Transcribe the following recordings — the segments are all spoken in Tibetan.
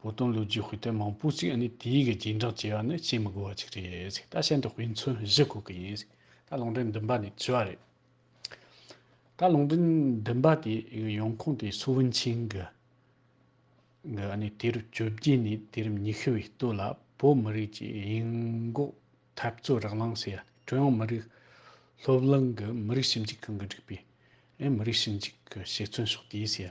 བོ་དོན་ལོ་རྒྱུས་དཔེ་དེབ་མང་པོ་ཞིག་ནི་དེའི་གི་རྗེས་འབྲངས་བྱས་པ་ནི་བཤད་མི་དགོས་པ་ཅིག་རེད་ད་བཤད་འདི་དཔེ་མཚོན་གཞི་དགོས་གི་ཡིན་ད་ལུང་འདྲེན་འདུན་པ་ནི་བྱི་བ་རེད། ད་ལུང་འདྲེན་འདུན་པ་དེ་གི་ཡོང་ཁུངས་དེ་སུའུ་ཝུན་ཆིང་གི་གི་ནི་དུས་རབས་བཅོ་བརྒྱད་ནས་དུས་རབས་ཉི་ཤུ་བའི་སྟོད་ལ་བོད་མི་རིགས་ཀྱི་ཡིན་འགོག་འཐབ་རྩོད་རག་ལངས་སའི་ཀྲུང་དབྱང་མི་རིགས་སློབ་གླིང་གི་མི་རིགས་ཞིབ་འཇུག་ཁང་གི་སྒྲིག་པའི་མི་རིགས་ཞིབ་འཇུག་གི་ཞིག་མཚོན་ཕྱོགས་དེའི་སའི།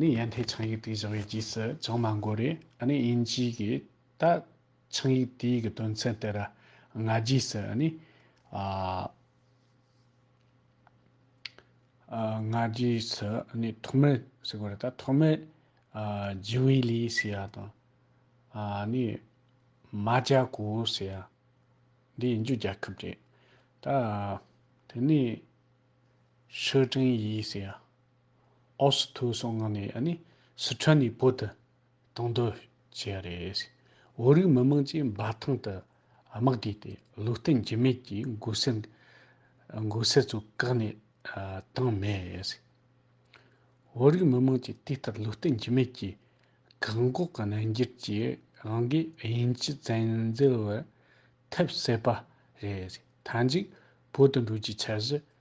ནི་ཡན་དྷའི་ཆང་ཡིག་དེ་བཞག་ཡོད་ཀྱིས་སུ་ཅང་མ་འགོར་རེ་ཨ་ནི་དབྱིན་ཇིའི་གི་ད་ཆང་ཡིག་དེའི་གི་དོན་ཚན་དེ་ར་ང་རྒྱིས་སུ་ཨ་ནི་ཨ་ཨ་ང་རྒྱིས་སུ་ཨ་ནི་ཐོག་མེད་སུ་གོ་རེ་ད་ཐོག་མེད་ཨ་ཇི་ཝི་ལི་སི་ཡ་དང་ཨ་ནི་མ་ཇ་གོ་སི་ཡ་འདི་ཡིན་རྒྱུ་རྒྱལ་ཁབ་རེད་ད་དེ་ནི་ཧྲི་ཀྲིན་ཡིས་སི་ཡ། ཨོ་སི་ཐུའུ་སོགས་མངགས་ནས་ཨ་ནི་སི་ཁྲོན་ནས་བོད་དུ་གཏོང་འདོད་བྱས་པ་རེད། བོད་རིགས་མི་དམངས་ཀྱིས་འབའ་ཐང་དུ་དམག་བསྡུས་ཏེ་ལུས་རྟེན་འགྱུར་མེད་ཀྱི་འགོ་སེར་འགོ་སེར་ཚོ་བཀག་ནས་བཏང་མེད། བོད་རིགས་མི་དམངས་ཀྱིས་དུས་ལྟར་ལུས་རྟེན་འགྱུར་མེད་ཀྱི་བཀག་འགོག་གི་གནོན་འགྱུར་གྱིས་རང་གི་དབྱིན་ཇི་བཙན་འཛུལ་བར་ཐེབས་སྲིད་པ་རེད། མཐའ་མཇུག་བོད་དུ་འགྲོ་རྒྱུའི་འཆར་གཞི་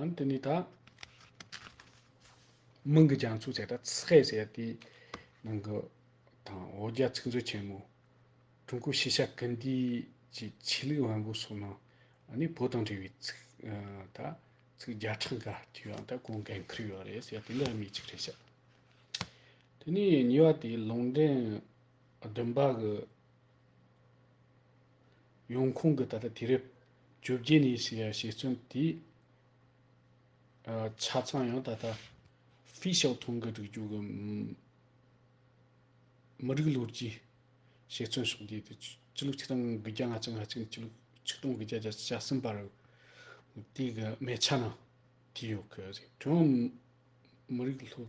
ཨང། དེ་ནས་ད། མིང་གི་རྒྱ་མཚོ་བྱས་ན་ཚེ་ཟེར་ཡ་དེའི་ནང་གི་དང་ཨོ་རྒྱ་ཚིག་མཛོད་ཆེན་མོ། ཀྲུང་གོའི་ཤེས་བྱ་སྐུལ་འདེད་ཀྱི་ཆོས་ལུགས་དབང་པོ་སོགས་ནང་ནས་བོད་དང་འབྲེལ་བའི་ཚིག་ད་ཚིག་བརྒྱ་ཕྲག་འགའ་བྲིས་པའང་ད་གོང་འགན་ཁུར་ཡོད་རེད་ཟེར་ཡ་དེ་འདྲ་མི་གཅིག་རེད་ཤག། དེ་ནས་གཉིས་པ་དེ་ལུང་འདྲེན་བདུན་པ་གི། ཡང་ཁོང་གིས་ད་ལྟ་དུས་རབས་བཅོ་བརྒྱད་ནས་ཞེས་བརྩམས་ཏེ། ཆ་ཚང་ཡང་ད་ལྟ་ཧྥེ་ཞའོ་ཐུང་གི་སྒྲིག་འཇུག་གི་མི་རིགས་ལོ་རྒྱུས་ཞེས་བརྩམས་ཤིང་དེ་དུས་ཕྱི་ལོ་ཆིག་སྟོང་དགུ་བརྒྱ་ང་གཅིག་ང་གཅིག་ནས་ཕྱི་ལོ་ཆིག་སྟོང་དགུ་བརྒྱ་བརྒྱ་ཆ་གསུམ་པར་དེའི་གི་མའེ་ཆ་ནང་བྲིས་ཡོད་གི་རེད། ཀྲུང་ཧྭ་མི་རིགས་ལྷོ།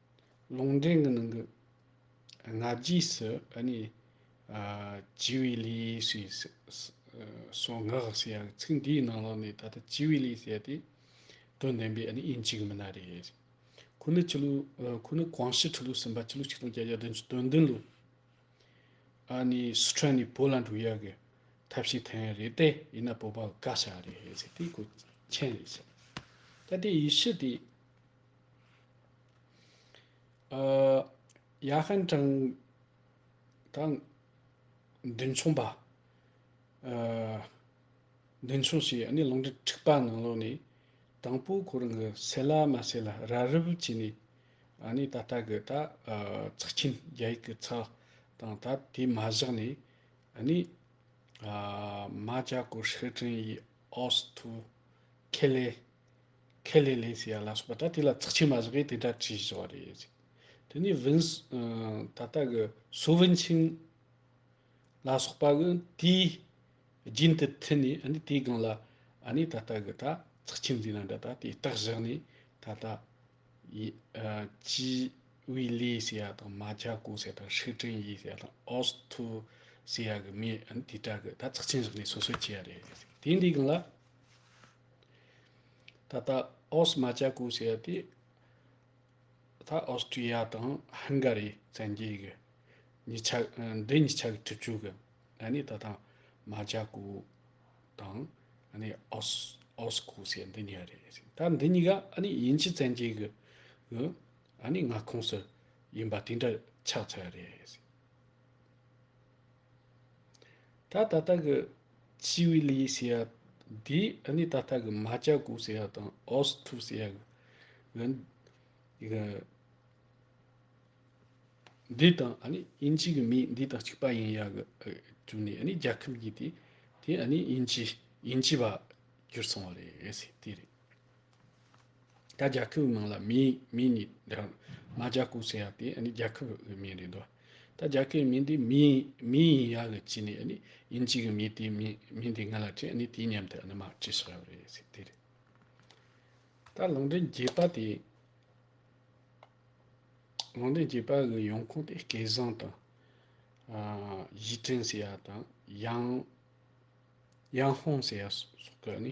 ལུང་འདྲེན་གྱི་ནང་གི་སྔ་རྗེས་སུ་ནི། བྱི་བའི་ལུས་ཞེས་སོགས་ངག་བཞི་ཡང་ཚིག་འདིའི་ནང་ལོགས་ནས་ད་ལྟ་བྱི་བའི་ལུས་ཟེར་ཏེ། དོན་བདེན་པས་ནི་དབྱིན་ཇིའི་མི་སྣ་རེད། ཁོ་ནི་ཆུ་ལུགས་ཁོ་ནི་ཀོང་ཞི་ཁྲི་ལོ་གསུམ་པ་ཕྱི་ལོ་ཆིག་སྟོང་བརྒྱད་བརྒྱ་དོན་བདུན་བདུན་ལོ། ནི་སི་ཁྲོན་ནས་བོད་ལ་འགྲོ་ཡ་གི་ཐབས་ཤེས་ཐོན་ཡ་རེད་དེ་ཡིན་ན་བོད་པ་དགའ་ཤ་རེད་ཟེར་ཏེ་གོ་མཁྱེན་རེད་ཟེར། ད་ལྟའི་ཡི་ཤུ་དེ། ཡ་ཧན་ཀྲང་དང་མདུན་མཚུངས་པ། མདུན་མཚུངས་བྱས་ནས་ལུང་འདྲེན་འཁྲིག་པ་ནང་ལོགས་ནས་དང་པོ་ཁོ་རང་གི་སེ་ལ་མ་སེ་ལ་ར་རི་བོ་བྱས་ནས་ནས་ད་ལྟ་གི་ད་ཚགས་ཆེན་རྒྱ་ཡིག་གི་ཚགས་དང་ད་དེ་མ་བཞག་ནས་ནས་རྨ་བྱ་སྐོར་ཧྲི་ཀྲིན་ཡིས་ཨོ་སི་ཐུ་ཁེ་ལེ། ཁས་ལེན་ལེན་ཟེར་ཡག་ལ་སོགས་པ་ད་དེ་ལ་ཚགས་ཆེ་མ་བཞག་གིས་དེ་འདྲ་བྲིས་བཞག་རེད་ཟེར། དེ་ནས་བིན། ད་ལྟ་གི་སུ་ཝིན་ཆིང། ལ་སོགས་པ་གི་དེའི་རྒྱུན་དུ་མཐུད་ནས་ཨ་ནི་དེའི་སྒང་ལ་ཨ་ནི་ད་ལྟ་གི་ད་ཚགས་ཆེ་འཛིན་ན་འདྲ་ད་དེ་རྟགས་བཞག་ནས་ད་ལྟ། ཅི། ཝི་ལི་ཟེར་ཡག་དང་མ་ཅཱ་ཀོ་ཟེར་ཡག་དང་ཧྲི་ཀྲིན་ཡི་ཟེར་ཡག་དང་ཨོ་སི་ཐུ། ཟེར་ཡག་གི་མི་ཨ་ནི་དེ་འདྲ་གི་ད་ཚགས་ཆེན་བཞག་ནས་སོ་སོས་བྱས་ཡག་རེད་ཟེར། དེའི་འདིའི་སྒང་ལ། ད་ལྟ་ཨོ་སི་མ་ཅཱ་ཀུ་ཟེར་བ་དེ། ད་ཨོ་སི་ཀྲི་ཡ་དང་ཧན་གྷ་རི་བཙན་རྒྱལ་གྱི་གཉིས་ཆ། འདི་གཉིས་ཆ་གི་འཁྲིག་སྤྱོད་ཀྱི་གནས་ནི་ད་ལྟ་མ་ཅཱ་ཀུ་དང། ཨོ་སི་ཀུ་ཟེར་འདི་གཉིས་རེད་ཟེར། ད་འདི་གཉིས་ཀ་དབྱིན་ཇི་བཙན་རྒྱལ་གྱི་མངའ་ཁོངས་སུ་ཡིན་པ་དེ་འདྲ་ཆགས་ཚར་བ་རེད་ཟེར། ད་ད་ལྟ་གི་ཆི་ཝི་ལི་ཡིས་ཟེར་བ་དེས་ཨ་ནི་ད་ལྟ་གི་མཱ་ཅཱ་གུ་ཟེར་བ་དང་ཨོ་སི་ཐུ་ཟེར་བ་གི་གི་འདི་དང་ཨ་ནི་དབྱིན་ཇི་གི་མིས་འདི་དང་གཅིག་པ་ཡིན་ཡག་གི་གྱུར་ནས་ཨ་ནི་རྒྱལ་ཁབ་གྱི་དེ་དེ་ཨ་ནི་དབྱིན་ཇི་དབྱིན་ཇི་བ་གྱུར་སོང་བ་རེད་ཟེར་དེ་རེད། ད་རྒྱལ་ཁབ་ནང་ལ་མི་མི་ནི་འདྲ། མ་རྒྱལ་ཁབ་ཟེར་ཡག་དེ་ནི་རྒྱལ་ཁབ་གི་མིང་རེད་དོ། ད་རྒྱལ་ཁབ་མིང་དེ་མི་མི་ཡིན་ཡག་གི་ཅི་ནི་ནི་ཡིན་ཅིག་གི་མི་དེ་མི་མིང་དེ་ང་ལ་དྲིས་ནི་དེའི་མཉམ་དུ་ནི་མ་བྲིས་ཤག་རེད་ཟེར་དེ་རེད། ད་ལུང་འདྲེན་རྒྱས་པ་དེ། ལུང་འདྲེན་རྒྱས་པ་གི་ཡོང་ཁུངས་དེ་སྐལ་བཟང་དང། ཡིས་ཀྲེང་ཟེར་ཡག་དང་ཡང་ཡང་ཧོང་ཟེར་ཡག་སོགས་ཀྱི་ནི།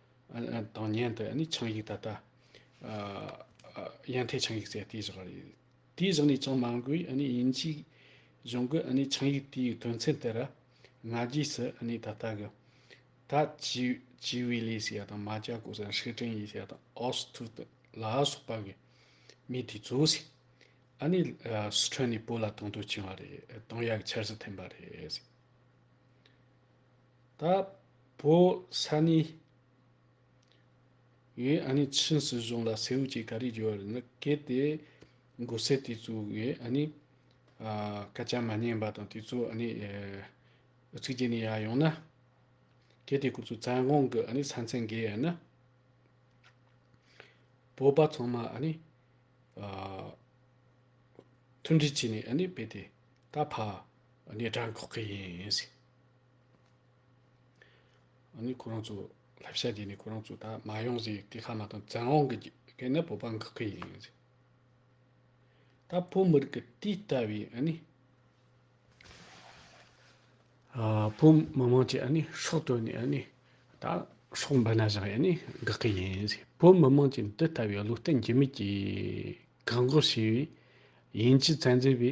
དང་མཉན་དུ་ནི་ཆང་ཡིག་ད་ལྟ། ཡན་ཐའི་ཆང་ཡིག་ཟེར་དེ་བཞག་རེད། དེ་བཞག་ནས་ཅང་མ་འགོས་ཡིན་ཅིག། གཞུང་གི་ཆང་ཡིག་དེའི་དོན་ཚན་དེ་ར། ང་རྒྱས་སུ་ད་ལྟ་གི། ད་ཅི་བའི་ལས་སུ་ཡ་དང་མ་ཅག་གོ་སར་ཧྲི་ཀྲན་ཡིས་ཡ་དང་ཨོ་སི་ཐུ་ཏི་ལ་སོགས་པ་གི། མི་དེ་ཚོ་ཟིག། ནི་སི་ཁྲོན་ནས་བོད་ལ་དང་དུ་བྱིན་བ་རེད་དང་ཡ་གི་འཆར་གཞི་འཐེན་པ་རེད། ད་བོ་ས་ནི། ངས་ཨ་ནི་ཕྱིན་སྲིད་གཞུང་ལ་སེའུ་སྐྱེས་ག་རེ་རྒྱུ་བ་རེད་ན་གལ་ཏེ། མགོ་སེར་དེ་ཚོས་ངས་ཨ་ནི། སྐད་ཆ་མ་ཉན་པ་དང་དེ་ཚོས་ཨ་ནི། ཚིག་རྒྱན་ནས་ཡར་ཡོང་ན། གལ་ཏེ་ཁོ་ཚོས་བཙན་དབང་གི་ཨ་ནི་ས་མཚན་འགེལ་ཡ་ན། བོད་པ་ཚང་མ་ཨ་ནི། མཐུན་སྒྲིལ་བྱས་ནས་ཨ་ནི་བེད་དེ་ད་ཕ་ཨ་ནི་དགྲ་འགོག་གི་ཡིན། ནི་ཁོ་རང་ཚོ་བསླབ་བྱ་དེ་ནི་ཁོ་རང་ཚོ་ད་མ་ཡོང་ཟེར་སྐད་ཁ་མ་གཏོགས་བཙན་དབང་གི་སྐད་ནི་བོད་པ་འགག་གི་ཡིན་ཟེར། ད་བོད་མི་རིགས་ཀྱི་དེ་ལྟ་བུའི་ཨ་ནི། བོད་མི་དམངས་ཀྱི་ཨ་ནི་ཕྱོགས་གཏོད་ནས་ཨ་ནི་ད་ཕྱོགས་འབད་ན་བཞག་ཡ་ནི་འགག་གི་ཡིན་ཟེར། བོད་མི་དམངས་ཀྱི་འདི་ལྟ་བུའི་བློ་བརྟན་འགྱུར་མེད་ཀྱི་བཀག་འགོག་བྱས་པའི་དབྱིན་ཇི་ཚན་རྩལ་པའི་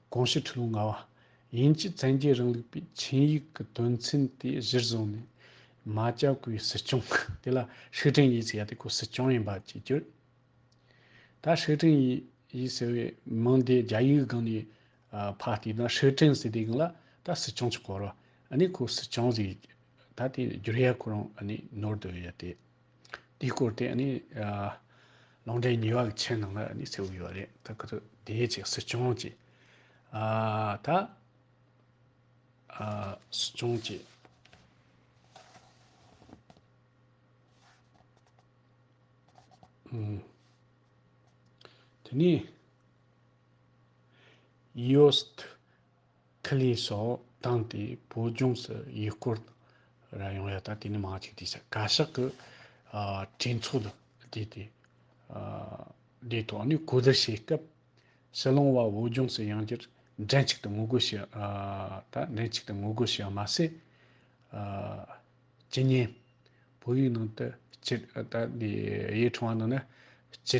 དགོངས་གཞི་ཁྲི་ལོ་ལྔ་བ། དབྱིན་ཇི་བཙན་རྒྱལ་རིང་ལུགས་པའི་ཆིངས་ཡིག་གི་དོན་ཚན་དེ་གཞིར་བཟུང་ནས། རྨ་བྱ་སྐུའི་སྲིད་སྐྱོང་དེ་ལ་ཧྲི་ཀྲིང་ཡི་ཟེར་ཡ་དེ་ཁོའི་སྲིད་སྐྱོང་ཡིན་པ་བཅས་བསྒྱུར། ད་ཧྲི་ཀྲིང་ཡི་ཡི་ཟེར་བའི་མིང་དེ་རྒྱ་ཡིག་སྒང་ནས་ཕར་བལྟས་ན་ཧྲི་ཀྲིང་ཟེར་དེ་གང་ལ་ད་སྲིད་སྐྱོང་གཅིག་གོ་རོ། ཨ་ནི་ཁོའི་སྲིད་སྐྱོང་ཟེར། ད་དེ་བསྒྱུར་ཡ་ཁོ་རང་ཨ་ནི་ནོར་འདོད་ཡ་དེ། དེའི་སྐོར་དེ་ནི་ལུང་འདྲེན་ཉི་བ་གི་མཆན་ནང་ལ་ནི་གསལ་བོ་ཡོད་རེད་ད་ག་དུས་དེའི་རྗེས་སྲིད་སྐྱོང་ཀྱི་ད་སྲིད་སྐྱོང་ཀྱི། དེ་ནི། ཡོད། ཁི་ལེ་སོགས་བཏང་སྟེ་བོད་ལྗོངས་སུ་ཡུལ་སྐོར་ར་ཡོང་ཡ་ད་དེ་ནི་མང་གཅིག་བསྡད་ས་བཀའ་ཤག་གི་གྲོས་ཚོགས་ལ་བསྡད་དེ་དེའི་ཐོག་ནས་གོ་བསྡུར་བྱེད་སྐབས་སྲིད་ལོང་བ་བོད་ལྗོངས་སུ་ཡང་བསྐྱར་མགྲིན་གཅིག་ཏུ་ངོ་རྒོལ་བྱེད་ད་མགྲིན་གཅིག་ཏུ་ངོ་རྒོལ་བྱེད་པ་མ་ཟད་ཇི་སྙེད་བོད་ཡིག་ནང་དུ་སྤྱི་ད་དེ་ཡའི་ཁྲོམ་བ་ནང་ན་སྤྱི་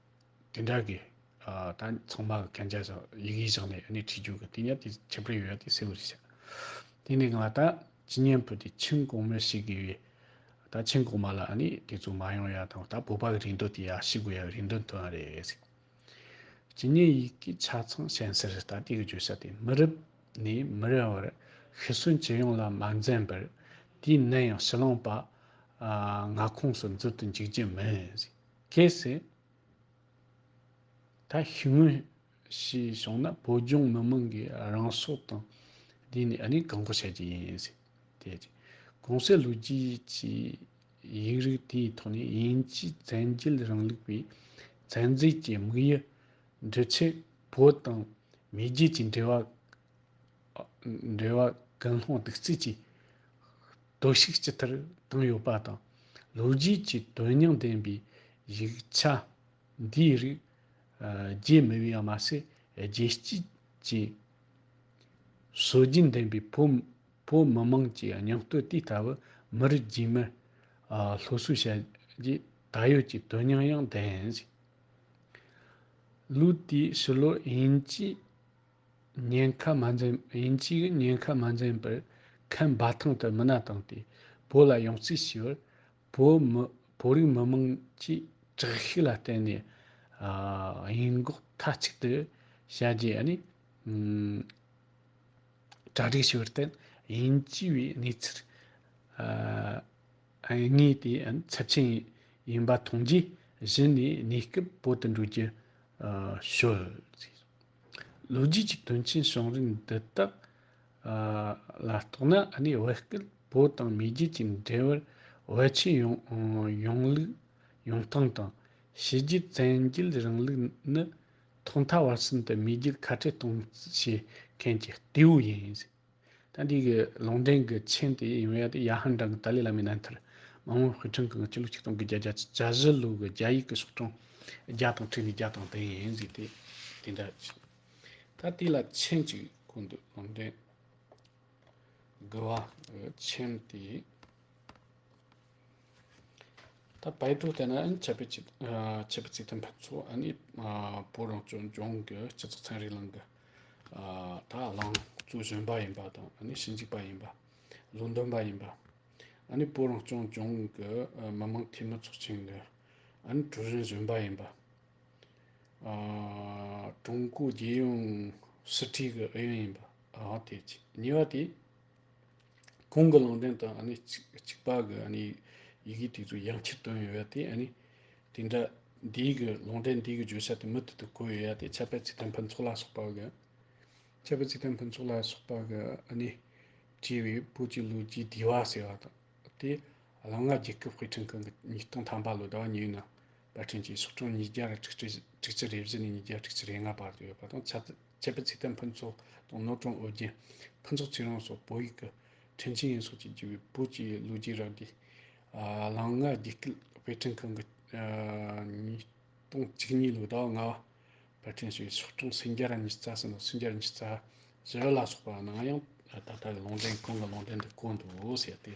དེ་འདྲ་གི། ད་ཚང་མ་གི་གན་རྒྱ་སོགས་ཡིག་ཡིག་བཞག་ནས་ཡོད་ནི་ཁྲིད་རྒྱུ་གི་དེ་ཉིད་དེ་ཁྱད་པར་ཡོད་དེ་སེའུ་རི་བྱ། དེ་ནས་ང་ད་ཇི་སྙན་པོ་དེ་ཆིང་གོང་མོ་ཤི་གི་ཡོད། ད་ཆིང་གོང་མ་ལ་ནི་དེ་ཚོ་མ་ཡོང་ཡ་དང་ད་བོད་པ་གི་རིན་དོད་དེ་ཡ་ཤི་དགོས་ཡ་གི་རིན་དོད་མཐོ་ཡ་རེད་ཟེར། ཇི་སྙན་ཡིག་གི་ཆ་ཚང་ཤན་སེར་ད་དེ་གི་བརྗོད་བྱ་དེ་མི་རབ་ནས་མི་རབ་བར་ཤི་གསོན་ཇི་ཡོང་ལ་མ་འཛེམ་པར་དེའི་ནད་ཡང་ཕྱི་ལོང་པ། ང་ཁོངས་སུ་འཛུལ་དུ་འཇུག་རྒྱུ་མིན་ཟེར། གལ་སྲིད་ད་ཤི་སྔོན་ཞེས་བྱུང་ན་བོད་ལྗོངས་མི་དམངས་ཀྱི་རང་སྲོག་དང་བསྡུས་ནས་ཨ་ནི་བཀག་འགོག་བྱ་རྒྱུ་ཡིན་ཟེར། དེ་རྗེས་གོང་གསལ་ལོ་རྒྱུས་ཀྱི་ཡིག་རིགས་དེའི་ཐོག་ནས་དབྱིན་ཇིས་བཙན་རྒྱལ་རིང་ལུགས་པའི་ཚན་རྩལ་གྱི་དམིགས་ཡུལ་འགྲུབ་ཆེད་བོད་དང་མེས་རྒྱལ་གྱི་འབྲེལ་བ་འབྲེལ་བ་ཀུན་སློང་དུག་རྩུབ་ཀྱིས་གཏོར་བཤིག་ཅི་ལྟར་བཏང་ཡོད་པ་དང། ལོ་རྒྱུས་ཀྱི་དོན་སྙིང་ལྡན་པའི་ཡིག་ཆ་འདིའི་རིགས་རྒྱས་མི་དབྱི་བ་མ་ཟད་རྒྱལ་སྤྱི་ཀྱི་སྲོལ་རྒྱུན་ལྡན་པའི་བོད་མི་དམངས་ཀྱི་སྙིང་སྟོབས་དེ་ལྟ་བུ་མི་རིགས་རྗེས་མར་སློབ་གསོ་བྱ་རྒྱུའི་ད་ཡོད་ཀྱི་དོན་སྙིང་ཡང་ལྡན། ལུགས་དེའི་ཕྱི་ལོ་དབྱིན་ཇིའི། ཉེན་ཁ་མ་འཛེམས་དབྱིན་ཇིའི་ཉེན་ཁ་མ་འཛེམས་པར་ཁན་འབའ་ཐང་དུ་མི་སྣ་བཏང་སྟེ་བོད་ལ་ཡང་རྩིས་ཞུས་པར། བོད་མི་བོད་རིགས་མི་མང་གྱིས་དྲག་ཤུགས་ལ་བརྟེན་ནས་ཡིན་འགོག་མཐའ་གཅིག་ཏུ་བྱ་རྒྱུ་ཡང་ནི་གྲ་སྒྲིག་ཞུས་པར་བརྟེན་དབྱིན་ཇི་བའི་གནས་ཚུལ་དངོས་དེ་ཚབས་ཆེན་ཡིན་པ་མཐོང་རྗེས་གཞི་ནས་གནས་སྐབས་བོད་དུ་འགྲོ་རྒྱུ་ཞུ། ལོ་རྒྱུས་ཀྱི་དོན་རྐྱེན་བྱུང་རིམ་འདི་དག་ལ་རྟོག་ན་གནས་བོད་སྐད་བོད་དང་མེས་རྒྱལ་གྱི་འབྲེལ་བར་བོད་ཆོས་ཡོངས་ལུགས་ཡོངས་ཐང་དང། ཕྱི་རྒྱལ་བཙན་རྒྱལ་རིང་ལུགས་ནི་ཐོག་མཐའ་བར་གསུམ་དུ་མེས་རྒྱལ་ཁ་བྲལ་གཏོང་བྱེད་མཁན་གྱི་རྟེའུ་ཡིན། ད་འདི་གི་ལུང་འདྲེན་གི་མཆན་དེ་ཡིན་བས་ཏེ་ཡ་ཧན་འབྲང་གི་ཏཱ་ལའི་བླ་མའི་རྣམ་ཐར། མ་མོ་བྷི་ཁྲིན་གང་གི་སྤྱི་ལོ་ཆིག་སྟོང་གི་བརྒྱད་བརྒྱ་ཆ་བཞི་ལོའི་གི་རྒྱ་ཡིག་གི་སོགས་གྲངས་བརྒྱ་དང་ཁྲི་ནས་བརྒྱ་དང་དེ་ཡན་གཟིགས་ཏེ་དེ་འདྲ་བྱེད། ད་དེ་ལ་མཆན་གཅིག་བཀོད་འདུག་ལུང་འདྲེན་དགུ་བ་གི་མཆན་དེ། ད་བལ་འབྲུག་ལྟ་ན་ཨིན་ཆབ་པའི་ཆབ་པའི་ཚིག་དོན་ཕན་ཚུགས་ཨ་ནི་བོད་རང་སྐྱོང་ལྗོངས་ཀྱི་སྤྱི་ཚོགས་ཚན་རིག་གླིང་གི་དག་བླངས་གཙོས་གཞོན་པ་ཡིན་པ་དང་ཨ་ནི་ཞིབ་འཇུག་པ་ཡིན་པ་ལུང་འདོན་པ་ཡིན་པ་ཨ་ནི་བོད་རང་སྐྱོང་ལྗོངས་ཀྱི་མི་དམངས་འཐུས་མི་ཚོགས་ཆེན་གྱི་ཨ་ནི་ཀྲུའུ་རེན་གཞོན་པ་ཡིན་པ་ཀྲུང་གོའི་རྒྱལ་ཡོངས་སྲིད་གྲོས་ཀྱི་ཨུ་ཡོན་ཡིན་པའང་ཐེག་ཆེ་གཉིས་པ་དེ་གོང་གི་ལུང་བསྟན་དང་གཅིག་པ་གི་ཡི་གེ་དེ་ཚོ་ཡང་ཕྱིར་བཏོན་ཡོད་དེ། དེ་འདྲ་འདིའི་གི་ལུང་བསྟན་འདིའི་གི་བརྗོད་བྱ་དེ་མུ་མཐུད་དུ་བཀོད་ཡོད་དེ་ཁྱད་པར་ཚིག་དོན་ཕུན་ཚོགས་ལ་སོགས་པ་གི། ཁྱད་པར་ཚིག་དོན་ཕུན་ཚོགས་ལ་སོགས་པ་གི་བྲིས་པའི་པོ་ཆེ་ལུགས་ཀྱི་བསྡུས་བ་ཟེར་བ་དང། དེ་ལ་ལྔ་བརྒྱའི་སྐབས་དཔེ་ཕྲེང་གི་ཉིས་སྟོང་ཐམ་པ་ལོ་ཟླ་བ་ཉིའུ་ནང་པར་སྐྲུན་གྱིས་ཕྱོགས་གྲངས་ཉིས་བརྒྱ་དང་དྲུག་ཅུ་རེ་བཞི་ནས་ཉིས་བརྒྱ་དྲུག་ཅུ་རེ་ལྔ་བར་དུ་ཡོད་པ་དང་ཁྱད་པར་ཚིག་དོན་ཕུན་ཚོགས་དང་ནོར་གྲོང་ཨོ་རྒྱན་ཕུན་ཚོགས་ཚེ་རིང་སོགས་བོད་ཡིག་གི་ཕྲེང་ཆེན་ཡིན་སོགས་ཀྱི་བརྒྱུད་པའི་བོད་ཀྱི་ལོ་རྒྱུས་རགས་བསྡུས། གླང་ལྔ་དགྱེས་སྐུལ་དཔེ་སྐྲུན་ཁང་གི་ཉིས་སྟོང་གཅིག་གཉིས་ལོའི་ཟླ་བ་ལྔ་བར་དཔར་སྐྲུན་བྱས་པའི་ཕྱོགས་གྲངས་སུམ་བརྒྱ་ར་ཉིས་རྩ་གསུམ་དང་སུམ་བརྒྱ་ར་ཉིས་རྩ་བཞི་ལ་སོགས་པ་ནང་ཡང་ད་ལྟ་གི་ལུང་འདྲེན་ཁང་གི་ལུང་འདྲེན་དུ་བཀོད་འདུག་ཟེར་ཏེ།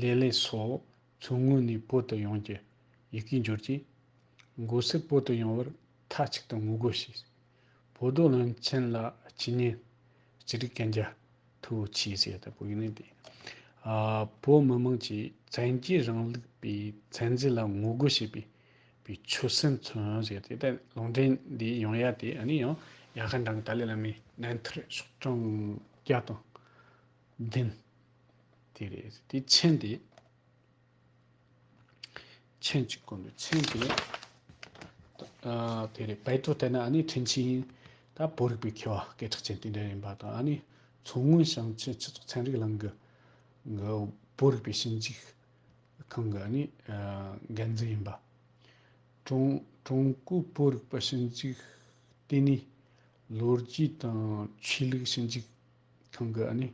ལེ་ལེ་སོགས་མཚོ་སྔོན་ནས་བོད་དུ་ཡོང་རྒྱུ་ཡི་གེ་འབྱོར་རྗེས། མགོ་སེར་བོད་དུ་ཡོང་བར་མཐའ་གཅིག་ཏུ་ངོ་རྒོལ་བྱས། བོད་རྡོ་བློན་ཆེན་ལ་སྤྱི་གཉེར། སྤྱི་རིགས་གན་རྒྱ་ཐུ་བོ་ཆེའི་ཟས་ལྟ་བུ་ཡིན་ནི་དེ། བོད་མི་དམངས་ཀྱིས་བཙན་རྒྱལ་རིང་ལུགས་པའི་ཚན་རྩལ་ལ་ངོ་རྒོལ་བྱེད་པའི་པའི་ཆོད་སེམས་མཚོན་བྱེད་དེ་ལྟ་ལུང་འདྲེན་འདི་ཡང་ཡ་དེ་ཨ་ནི་ཡང་ཡ་ཧ་འདྲ་གི་ཏཱ་ལའི་བླ་མའི་གནས་མཐར་ཕྱོགས་གྲངས་བརྒྱ་དང་བདུན། དེ་རེད་ཟེར་དེ་མཆན་དེ་མཆན་གཅིག་བསྐུར་འདུག་མཆན་དེ་དེ་རེད་བལ་ཏོ་དེ་ན་ཨ་ནི་ཁྲིན་ཆིན་ད་བོད་རིག་པའི་མཁས་པ་སྐད་གྲགས་ཅན་དེ་འདྲ་ཡིན་པ་དང་ཨ་ནི་མཚོ་སྔོན་ཞིང་ཆེན་སྤྱི་ཚོགས་ཚན་རིག་ལམ་གི་བོད་རིག་པའི་ཞིབ་འཇུག་ཁང་གི་ཨ་ནི་འགན་འཛིན་ཡིན་པ་ཀྲུང་ཀྲུང་གོའི་བོད་རིག་པ་ཞིབ་འཇུག་ལྟེ་གནས་ལོ་རྒྱུས་དང་ཆོས་ལུགས་ཞིབ་འཇུག་ཁང་གི་ནི་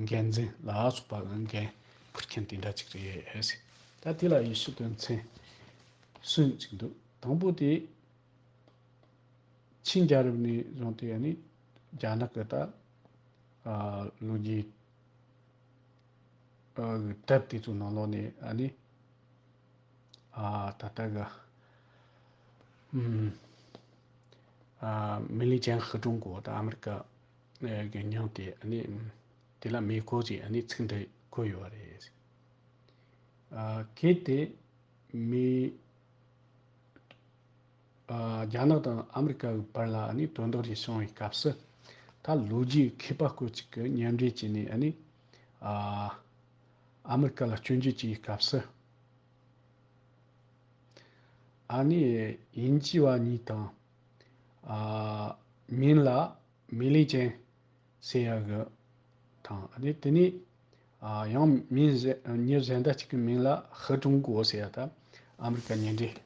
འགན་འཛིན་ལ་སོགས་པ་ལ་འགན་འཁུར་མཁན་དེ་འདྲ་ཅིག་རེད། ད་དེ་ལ་ཡེ་ཤུ་དོན་ཚན་གསུམ་གཅིག་འདུག་དང་པོ་དེ། ཆིན་རྒྱལ་རབས་ནས་བཟུང་སྟེ་ནི་རྒྱ་ནག་གི་ད་ལོ་རྒྱས་གྲབས་དེ་ཚོའི་ནང་ལོགས་ནས་ནི། ད་ལྟ་གི། མི་ལི་ཅན་ཧྭ་ཀྲུང་གོ་དང་ཨ་མི་རི་ཀ་གི་མཉམ་དེ་དེ་ལ་མེ་འཁོར་གྱི་ཚིག་འདི་བཀོད་ཡོད་པ་རེད། གལ་ཏེ་མི་རྒྱ་ནག་དང་ཨ་མི་རི་ཀ་གི་བར་ལ་དོན་དག་ཅིག་བྱུང་བའི་སྐབས་སུ་ད་ལོ་རྒྱའི་མཁས་པ་སྐོར་ཅིག་གིས་མཉམ་འབྲེལ་བྱས་ནས་ཨ་མི་རི་ཀ་ལ་སྐྱོན་བརྗོད་བྱས་པའི་སྐབས་སུ། ཨ་ནི་དབྱིན་ཇི་བ་གཉིས་དང། མིན་ལ་མི་ལི་ཅན་ཟེར་ཡ་གི། དང། དེ་ནས་ཡང་མིན་ཉི་གཟན་ཟླ་གཅིག་གི་མིང་ལ་ཧི་ཀྲུང་གོ་ཟེར་ཡ་ད་ཨ་མི་རི་ཀ་ཉེ་འབྲེལ་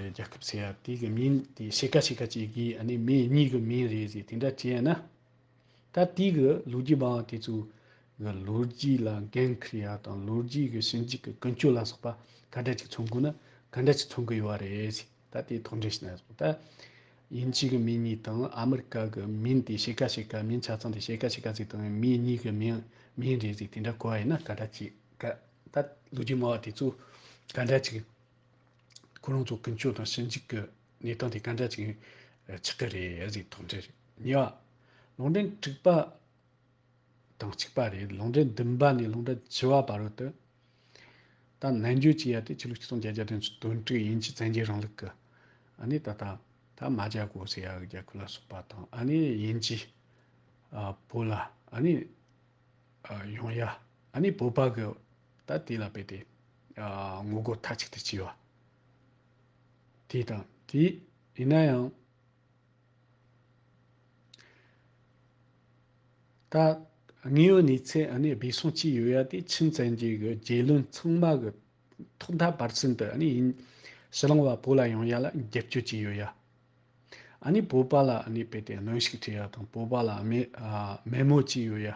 རྒྱལ་ཁབ་ཟེར་ཡ་དེ་གི་མིན་དེ་ཕྱེད་ཀ་ཕྱེད་ཀ་བྱེད་གི་ཨ་ནི་མི་གཉིས་གི་མིན་རེད་ཟེར་དེ་འདྲ་བྱེད་ན། ད་ལྟའི་གི་ལོ་རྒྱུས་པའང་དེ་ཚོའི་གི་ལོ་རྒྱུས་ལ་འགན་ཁུར་ཡ་དང་ལོ་རྒྱུས་གི་ཞིབ་འཇུག་གི་ཀུན་སྤྱོད་ལ་སོགས་པ་ག་འདྲ་ཅིག་མཚོན་དགོས་ན་ག་འདྲ་ཅིག་མཚོན་གི་ཡོད་རེད་ཟེར་ད་དེ་ཐོག་འབྲེལ་བྱས་ན་ཟོག་ད་དབྱིན་ཇི་གི་མི་གཉིས་དང་ཨ་མི་རི་ཀ་གི་མིན་དེ་ཕྱེད་ཀ་ཕྱེད་ཀ་མིན་ཆ་ཚང་དེ་ཕྱེད་ཀ་ཕྱེད་ཀ་ཟེར་དང་མི་གཉིས་གི་མིང་མིན་རེད་ཟེར་དེ་འདྲ་གོ་བ་ཡིན་ན་ག་འདྲ་ཅིག་ག་ད་ལོ་རྒྱུས་སྨྲ་བ་དེ་ཚོ་ག་འདྲ་ཅིག་ཁོ་རང་ཚོ་ཀུན་སྤྱོད་དང་ཞིབ་འཇུག་གི་གནས་སྟངས་དེ་སྐད་འདྲ་ཅིག་ཆགས་ཀྱི་རེད་ཨེ་ཟིག་དོགས་འདྲི། གཉིས་པ། ལུང་འདྲེན་དྲུག་པ་དང་གཅིག་པ་རེད་ལུང་འདྲེན་བདུན་པ་ནས་ལུང་འདྲེན་བཅུ་བ་བར་དུ་ད་ནན་བརྗོད་བྱས་ཡ་དེ་ཕྱི་ལོ་ཆིག་སྟོང་བརྒྱད་བརྒྱ་དོན་དོན་དྲུག་དབྱིན་ཇི་བཙན་རྒྱལ་རིང་ལུགས་ཀྱི་ཨ་ནི་ད་ལྟ་ད་མ་བརྒྱ་གོ་ཟེར་ཡ་གི་རྒྱ་ཁུལ་ལ་སོགས་པ་དང་ཨ་ནི་དབྱིན་ཇི་བོད་ལ་ཨ་ནི་ཡོང་ཡ་ཨ་ནི་བོད་པ་གི་ད་དེ་ལ་བལྟས་ཏེ་ངོ་རྒོལ་མཐའ་གཅིག་ཏུ་བྱས་པ། དེ་དང་དེ་ཡིན་ན་ཡང། ད་དངོས་ཡོད་གནས་ཚད་འདས་སོང་གཅིག་ཡོད་ཡ་དེ་ཆིན་བཙན་གྱི་རྒྱལ་བློན་ཚང་མ་གི་ཐོག་མཐའ་བར་གསུམ་དུ་ཡིན། ཕྱི་གླིང་བ་བོད་ལ་ཡོང་ཡ་ལ་རྒྱབ་སྐྱོར་གཅིག་ཡོད་ཡ། བོད་པ་ལ་དཔེ་དེ་གནོན་ཤུགས་སྤྲད་ཡ་དང་བོད་པ་ལ་དམན་མོ་གཅིག་ཡོད་ཡ།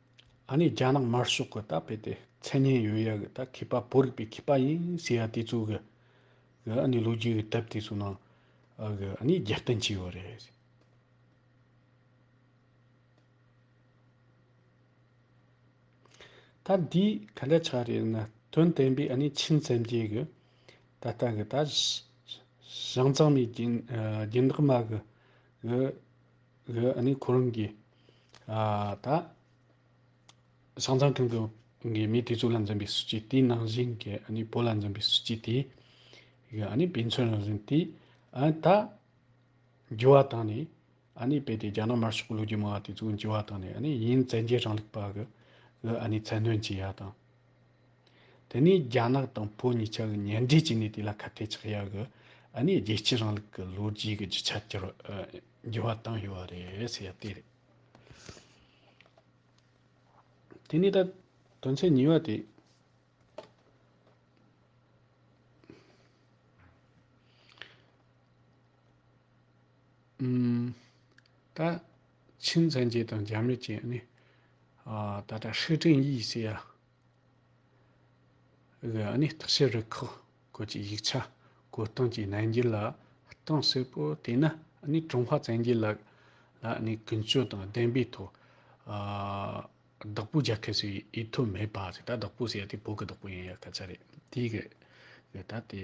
ཨ་ནི་རྒྱ་ནག་དམར་ཤོག་གི་ད་དཔེ་དེ་མཚན་སྙན་ཡོད་ཡ་གི་ད་མཁས་པ་བོད་རིག་པའི་མཁས་པ་ཡིན་ཟེར་ཡ་དེ་ཚོ་གི་གི་ཨ་ནི་ལོ་རྒྱུས་གི་དཔེ་དེ་ཚོ་ནང་ཨ་གི་ཨ་ནི་རྒྱབ་རྟེན་བྱས་ཡོད་རེད། ད་འདི་ག་འདྲ་ཆགས་རེད་ན་དོན་བསྟན་པའི་ཨ་ནི་ཆིན་སེམས་བསྐྱེད་གི་ད་ལྟ་གི་ད་བཞང་གཙང་མའི་རྒྱན་རྒྱན་འདག་མ་གི་གི། ཨ་ནི་ཁོ་རང་གིས་ད་ཤང་ཚང་ཁང་གི་གི་མི་དེ་ཚོ་ལ་འཛིན་པའི་སྲིད་ཇུས་དེའི་ནང་བཞིན་གྱི་ཨ་ནི་བོད་ལ་འཛིན་པའི་སྲིད་ཇུས་དེ་གི་ཨ་ནི་དཔེ་མཚོན་རང་བཞིན་དེ་ཨ་ད་འགྱུར་བ་བཏང་ནས་ཨ་ནི་དཔེ་དེ་རྒྱ་ནག་དམར་ཤོག་གི་ལོ་རྒྱུས་མང་བ་དེ་ཚོ་འགྱུར་བ་བཏང་ནས་ཨ་ནི་ཡིན་བཙན་རྒྱལ་རིང་ལུགས་པ་གི་ཨ་ནི་མཚན་འདོན་བྱས་ཡ་དང། དེ་ནས་རྒྱ་ནག་དང་བོད་གཉིས་ཆར་གཉེན་འབྲེལ་བྱས་ནས་དེ་ལ་ཁ་གཏད་ཆགས་ཡག་གི་ནས་རྒྱལ་གཅེས་རིང་ལུགས་ཀྱི་ལོ་རྒྱུས་ཀྱི་རྒྱུ་ཆ་འགྱུར་བ་འགྱུར་བ་བཏང་ཡོད་པ་རེད་ཟེར་ཡ་དེ་རེད། དེ་ནས་ད་དོན་ཚན་གཉིས་པ་དེ། ད། ཆིན་མཚན་བཅས་དང་རྒྱ་མི་བཅས་ནི། ད་ལྟ་ཧྲི་ཀྲིན་དབྱི་སི་ཡ་གི་ནི་ཐག་གཅོད་རུ་ཁག་བཀོད་ཀྱི་ཡིག་ཆ་བཀོད་སྟངས་ཀྱི་གནད་འགྱུར་ལ་གཏིང་ཟབ་པོ་བལྟས་ན་ནི་ཀྲུང་ཧྭ་བཙན་རྒྱལ་ལ་ནི་ཀུན་སྤྱོད་དང་བདེན་པའི་ཐོག་བདག་པོ་རྒྱག་མཁན་ཞིག་ཡིན་ཐུབ་མེད་པ་ཞིག་ད་བདག་པོ་ཞེས་དེ་བོད་ཀྱི་བདག་པོ་ཡིན་ཡང་སྐད་ཆ་རེད་དེ་གི་ད་དེ།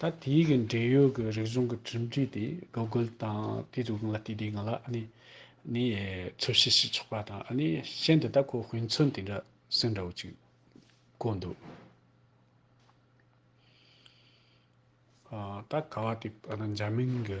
ད་དེའི་གི་འབྲེལ་ཡོད་གི་རིག་གཞུང་གི་གྲུབ་འབྲས་དེ Google དང་དེའི་རིགས་ལ་བལྟས་དེ་ང་ལ་ནི་ནི་འཚོལ་བཤེར་བྱེད་ཆོག་པ་དང་ནི་གཞན་དེ་ད་ཁོ་ཧུན་ཚོན་དེ་འདྲ་སུན་འདྲ་བོ་ཅིག་བཀོད་འདུག་ད་ག་བ་དེ་འཇར་མན་གི་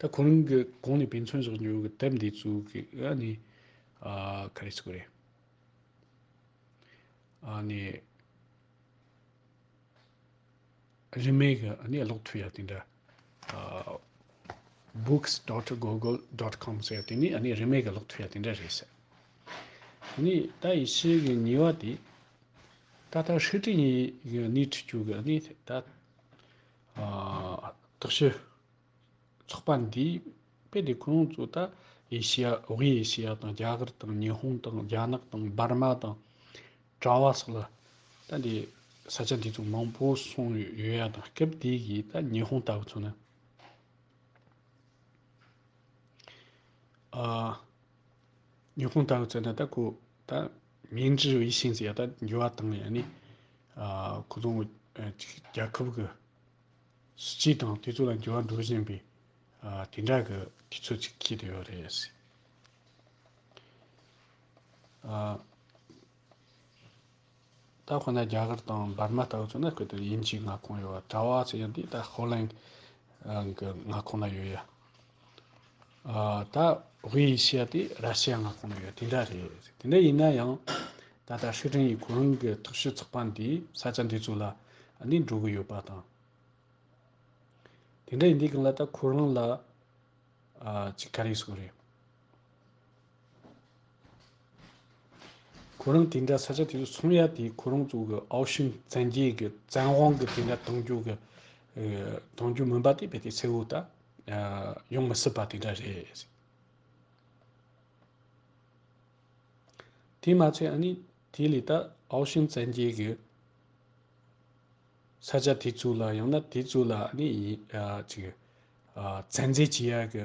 ད་ཁོ་རང་གི་གོང་ནས་དཔེ་མཚོན་བཞག་རྒྱུ་གི་དེབ་འདི་ཚུགས་ཀྱི་ཨ་ནི། ག་རེ་ཟེར་དགོས་རེད། ཨ་ནི། རིན་མེད་གི་ཨ་ནི་ཀློག་ཐུབ་ཡ་དེ་འདྲ། books dot google dot com ཟེར་དེ་ནི་ཨ་ནི་རིན་མེད་གི་ཀློག་ཐུབ་ཡ་དེ་འདྲ་རེད་ཟེར། དེ་ནི་ད་ཡི་ཕྱི་གི་ཉིན་བ་དེ། ད་ལྟ་ཧྲི་ཀྲི་ཡིས་ནི་ཁྲིད་རྒྱུ་གི་ཨ་ནི་ད། དག་ཞི། ཚོགས་པ་འདིས་དཔེ་དེབ་ཁུངས་ཡོངས་རྫོགས་ད་ཡེ་ཤེ་ཡ་ཝེ་ཡེ་ཤེ་ཡ་དང་རྒྱ་གར་དང་ཉི་ཧོང་དང་རྒྱ་ནག་དང་འབར་མ་དང་ཀྲ་བ་སོགས་ལ་ད་དེ་ས་ཆ་འདི་ཚོ་མང་པོ་སོང་ཡོད་ཡ་དང་སྐབས་དེ་གི་ད་ཉི་ཧོང་ལྟ་བུ་ཚོ་ནི། ཉི་ཧོང་ཏང་ཙེ་ན་ད་ཁོ་ད་མིང་ཅི་བི་ཤིན་ཟེར་ཡག་ད་འགྱུར་བ་བཏང་ཡག་ནི། ཁོ་ཚོ་རྒྱལ་ཁབ་གི་སྲིད་སྤྱི་དང་དེ་ཚོ་ལ་འགྱུར་བ་འགྲོ་བཞིན་པའི་དེ་འདྲ་གི་དུས་ཚོད་ཅིག་ཁེལ་དུ་ཡོད་རེད། ད་ཁོ་ན་རྒྱ་གར་དང་འབར་མ་ལྟ་བུ་ཚོ་ན་གོ་ཐོས་དབྱིན་ཇིའི་མངའ་ཁོངས་ཡོད་པ་གྲྭ་བ་ཚོ་ཡང་དེ་ལྟར་ཧོ་ལན་གྱི་མངའ་ཁོངས་ན་ཡོད་ཡ། ད་དབྱི་ཡི་ཤེ་ཡ་དེ་ར་ཤི་ཡ་མངའ་ཁོངས་ན་ཡོད་དེ་འདྲ་རེད། དེ་འདྲ་ཡིན་ན་ཡང་ད་ལྟ་ཧྲི་ཀྲིན་ཡིས་གོ་རིམ་གྱི་ཐུགས་བཞེད་ཚོགས་པ་འདི་ས་ཆ་འདི་ཚོ་ལ་ནས་འགྲོ་གི་ཡོད་པ་དང། དེ་འདྲ་ཡིན་དུས་གང་ལ་ད་ཁོ་རང་ལ་ཅིག་ག་རེ་གསུངས་རེད། ཁོ་རང་དེ་འདྲ་ས་ཆ་དེ་ཚོ་ཚོང་ཡ་དེ་ཁོ་རང་ཚོ་གི་ཨའོ་ཤིན་བཙན་རྒྱལ་གི་བཙན་དབང་གི་དེ་འདྲ་གཏོང་རྒྱུ་གི་གཏོང་རྒྱུ་མིན་པ་དེ་རྦད་དེ་གསལ་བོ་ད་ཡོང་མི་སྲིད་པ་དེ་འདྲ་རེད། དེ་མ་ཚད་ཨ་ནི་དེ་ལས་ད་ཨའོ་ཤིན་བཙན་རྒྱལ་གི་ས་ཆ་དེ་ཚོ་ལ་ཡང་ན་དེ་ཚོ་ལ་ཨ་ནི་ཡིན་ཅིག་ཚན་རྩལ་བྱེད་ཡ་གི་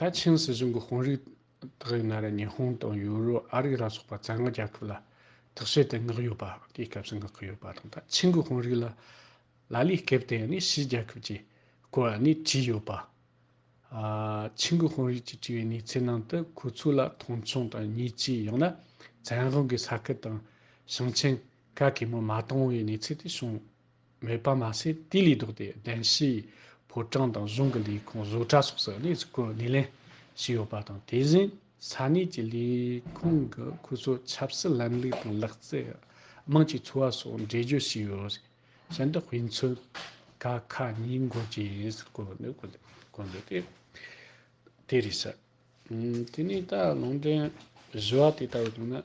ད་ཆིང་སྲིད་གཞུང་གི་དཔོན་རིགས་དག་ཡིན་ན་ར་ཉི་ཧོང་དང་ཡོ་རོ་ཨ་རི་ལ་སོགས་པ་བཙན་དབང་རྒྱལ་ཁབ་ལ་དག་བྱེད་དེ་མངགས་ཡོད་པ་དེའི་སྐབས་སུ་མངགས་ཀྱི་ཡོད་པ་དང་ད་ཆིང་གི་དཔོན་རིགས་ལ་ལ་ལས་སྐལ་དེ་ནི་ཕྱིའི་རྒྱལ་ཁབ་ཀྱིས་བཀོལ་བ་ནི་བྲིས་ཡོད་པ། ཆིང་གི་དཔོན་རིགས་ཀྱིས་བྲིས་པའི་གནས་ཚད་ནང་དུ་ཁོ་ཚོ་ལ་མཐོང་ཆུང་དང་ཉེས་ཆད་ཡང་ན་བཙན་དབང་གིས་ས་ཁུལ་དང་ཞིང་ཆེན་ག་གེ་མོ་མ་བཏང་བའི་གནས་ཚད་དེ་བྱུང། མེད་པར་མ་ཟད་དེ་ལས་ལྡོག་སྟེ་གདན་བཞིའི་ཕོ་བྲང་དང་གཞུང་གི་ལས་ཁུངས་བཟོ་གྲྭ་སོགས་སུ་གནས་ཚུལ་སྐོར་སྣེ་ལེན་བྱས་ཡོད་པ་དང་དེ་བཞིན་ས་གནས་ཀྱི་ལས་ཁུངས་ཀྱི་ཁུལ་གཙོ་ཆབ་སྲིད་ལམ་ལུགས་དང་ལག་རྩལ། དམངས་ཀྱི་འཚོ་བ་སོགས་འགྲེལ་བརྗོད་བྱས་ཡོད་རེད། ཤིན་ཏུ་དཔེ་མཚོན་ག་ཁ་ཉིན་འགོར་གྱི་ཡིན་ཟེར་སྐོར་ནི་གོ་འདོད་དེ་དེ་རེད་ཟེར། དེ་ནས་ད་ལུང་འདྲེན་བཞི་བ་དེ་ལྟ་བུ་བྱུང་ན།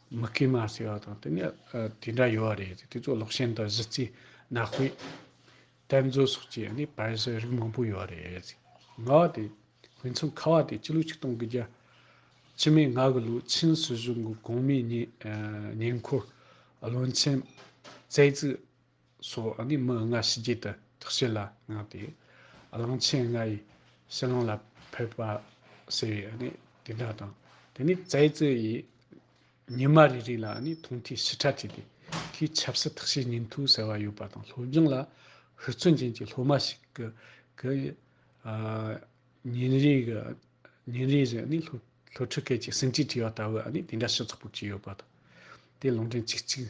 མི་དགེ་མ་བསལ་བ་དང་དེ་ནས་དེ་འདྲ་ཡོད་རེད་དེ་ཚོ་ལོག་ཞེན་དང་གཞི་རྩའི་ནག་དཔེ། གཏེར་མཛོད་སོགས་ཀྱི་ནི་བར་གསེང་རིགས་མང་པོ་ཡོད་རེད། ང་བ་དེ་དཔེ་མཚོན་ཁ་བ་དེ་སྤྱི་ལོ་ཆིག་སྟོང་གི་རྒྱ་ཕྱི་མའི་ང་གི་ལོའི་ཆིན་སྲིད་གཞུང་གི་གོང་མའི་ཉེ་འཁོར་བློན་ཆེན་བཙལ་རྩིས་སོགས་ནི་མི་ལྔ་ཕྱི་རྒྱལ་དུ་དག་བྱེད་ལ་བསྔགས་ཏེ། གླང་ཆེན་ལྔ་ཡི་ཕྱི་ནང་ལ་ཕེབས་པ་ཟེར་བའི་ནི་དེ་འདྲ་དང། དེ་ནས་ཙའི་ཙི་ཡིས་ཉི་མ་རེ་རེ་ལ་ནི་མཐོང་ཐོས་ཞི་ཕྲ་བྱས་ཏེ། དེའི་ཆབ་སྲིད་དག་བྱེད་ཉིན་ཐོ་ཟེར་བ་ཡོད་པ་དང་སློབ་སྦྱོང་ལ་ཧུར་བརྩོན་ཅན་གྱི་སློབ་མ་ཞིག་གི་ཉིན་རེ་ཉིན་རེ་བཞིན་ནི་སློབ་ཕྲུག་སྐད་ཀྱི་ཟིན་བྲིས་བྲིས་པ་ལྟ་བུ་ནི་དེ་འདྲ་ཞིག་ཚོགས་པར་བྱས་ཡོད་པ་དང། དེ་ལུང་འདྲེན་ཆིག་གཅིག།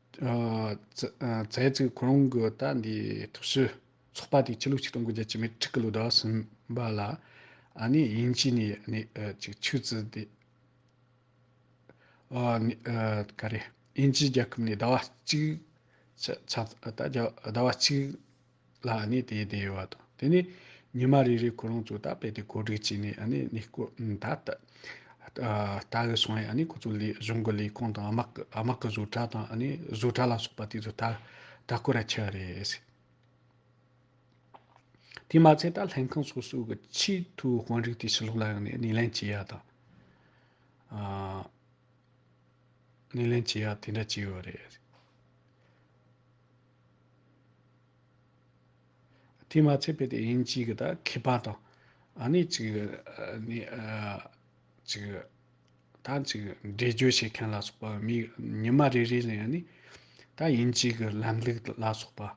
རྫས་བརྩིགས་གོ་རིམ་གྱི་རྟ་འདི་ཐུགས་སུ་ཚོགས་པ་དེའི་ཕྱི་ལུགས་ཆིག་སྟོང་དགུ་བརྒྱ་བཅུ་མེད་ཁྲི་ཀ་ལོ་དག་ཟིན་པ་ལ་དབྱིན་ཇི་ནས་ཅིག་ཆུ་བཙིར་ཏེ། དབྱིན་ཇི་རྒྱལ་ཁབ་ནས་ཟླ་བ་གཅིག་ཟླ་བ་གཅིག། ལ་ཨ་ནི་དེའི་དེ་ཡོད་བ་དང་དེ་ནས་ཉི་མ་རེ་རེ་ཁོ་རང་ཚོ་ད་དཔེ་དེ་གོ་སྒྲིག་བྱས་ནས་ཨ་ནི་ནི་སྐོར་ད་ལྟ་ད་གི་སོང་ཡ་ཨ་ནི་ཁོ་ཚོ་ལས་གཞུང་གི་ལས་ཁང་དང་དམག་གི་དམག་གི་བཟོ་གྲྭ་དང་ཨ་ནི་བཟོ་གྲྭ་ལ་སོགས་པ་དེ་ཚོ་ད་ད་སྐོར་ར་ཆགས་རེད། དེ་མ་ཚད་ད་ལྷན་ཁང་སོ་སོའི་གི་ཆེས་མཐོའི་དཔོན་རིགས་དེ་ཕྱི་ལོག་ལ་ཡོང་ནས་སྣེ་ལེན་བྱེད་ཡ་དང། སྣེ་ལེན་བྱེད་ཡ་དེ་འདྲ་བྱས་ཡོད་རེད། དེས་མ་ཚད་པའི་དེ་ཡིན་གཅིག་གི་དང་མཁས་པ་དང། ཨ་ནི་གཅིག་གི། ནི། གཅིག་གི། ད་གཅིག་གི་འགྲེལ་བརྗོད་བྱེད་མཁན་ལ་སོགས་པ་མིའི་ཉི་མ་རེ་རེ་ནས་ཡང་ནི། ད་ཡིན་གཅིག་གི་ལམ་ལུགས་ལ་སོགས་པ།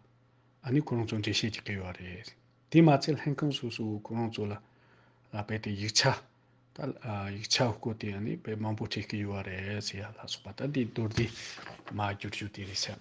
ཨ་ནི་ཁོ་རང་ཚོ་འགྲེལ་བཤད་བྱེད་ཀྱི་ཡོད་རེད། དེས་མ་ཚད་ལྷན་ཁང་སོ་སོའི་ཁོ་རང་ཚོ་ལ། དཔེ་དེ་ཡིག་ཆ། ད། ཡིག་ཆ་བཀོད་དེ་ཡང་ནི་དཔེ་མང་པོ་བྲིས་ཀྱི་ཡོད་རེད་ཟེར་ཡ་ལ་སོགས་པ་ད་དེ་མདོར་བསྡུས། མ་བསྒྱུར་རྒྱུ་དེ་རེད་བསམ།